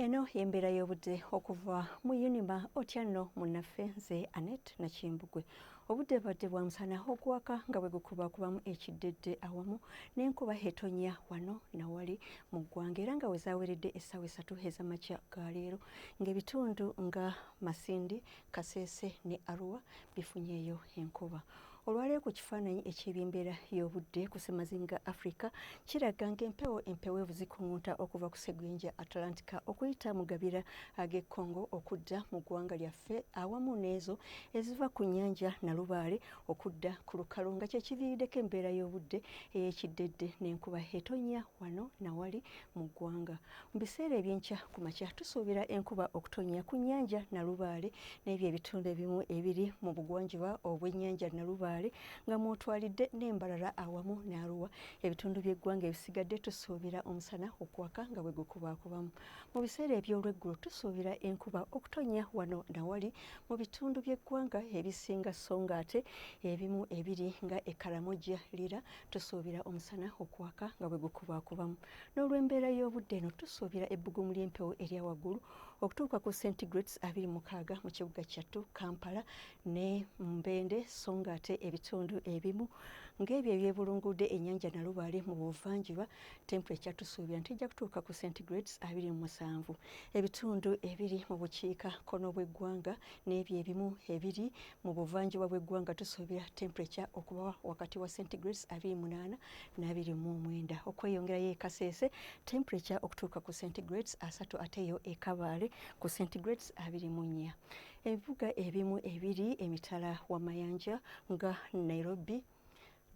Eno y'embeera y'obudde okuva mu unima otya nno munnaffe nze anet nakimbugwe obudde badde bwa musana okuwaka nga bwe gukubakubamu ekiddedde awamu n'enkuba etonya wano nawali mu ggwanga era nga we zaweredde essaawa esatu ez'amakya ga leero ng'ebitundu nga masindi kaseese ne arua bifunyeeyo enkuba Olwaleero ku kifaananyi eky'ebyembeera y'obudde ku ssemazinga Africa kiraga ng'empewo empeweevu zikuŋŋunta okuva ku ssegwenja Atlantica okuyita mu gabira ag'e Congo okudda mu ggwanga lyaffe awamu n'ezo eziva ku nnyanja Nalubaale okudda ku lukalu nga kye kiviiriddeko embeera y'obudde ey'ekiddedde n'enkuba etonnya wano na wali mu ggwanga. Mu biseera eby'enkya ku makya tusuubira enkuba okutonnya ku nnyanja Nalubaale n'ebyo ebitundu ebimu ebiri mu bugwanjuba obw'ennyanja Nalubaale nga mw'otwalidde n'e Mbarara awamu ne Arua. Ebitundu by'eggwanga ebisigadde tusuubira omusana okwaka nga bwe gukubaakubamu. Mu biseera eby'olweggulo tusuubira enkuba okutonnya wano na wali mu bitundu by'eggwanga ebisinga sso ng'ate ebimu ebiri nga e Karamoja, Lira tusuubira omusana okwaka nga bwe gukubaakubamu. N'olw'embeera y'obudde eno tusuubira ebbugumu ly'empewo erya waggulu okutuuka ku centigrades abiri mukaaga mu kibuga kyattu Kampala ne Mbende so ng'ate ebitundu ebimu ng'ebyo ebyebulungudde ennyanja Nalubaale mu buvanjuba temperature tusuubira nti ejja kutuuka ku centigrades abiri mu musanvu. Ebitundu ebiri mu bukiika kkono bw'eggwanga n'ebyo ebimu ebiri mu buvanjuba bw'eggwanga tusuubira temperature okuba wakati wa centigrades abiri munaana n'abiri mu omwenda okweyongerayo e Kasese temperature okutuuka ku centigrades asatu ate yo e Kabale ku centigrades abiri mu nnya ebibuga ebimu ebiri emitala w'amayanja nga Nairobi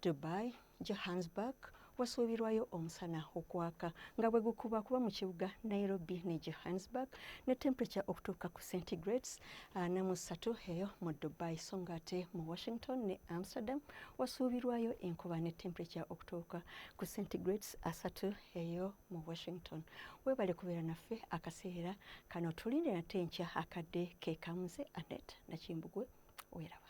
Dubai Johannesburg wasuubirwayo omusana okwaka nga bwe gukuba kuba mu kibuga Nairobi ne Johannesburg ne temperature okutuuka ku centigrades ana ah, mu ssatu eyo mu Dubai so ng'ate mu Washington ne Amsterdam wasuubirwayo enkuba ne temperature okutuuka ku centigrades asatu eyo mu washington webale kubeera naffe akaseera kano tulinde nate enkya akadde kekamuze anet nakimbugwe weraba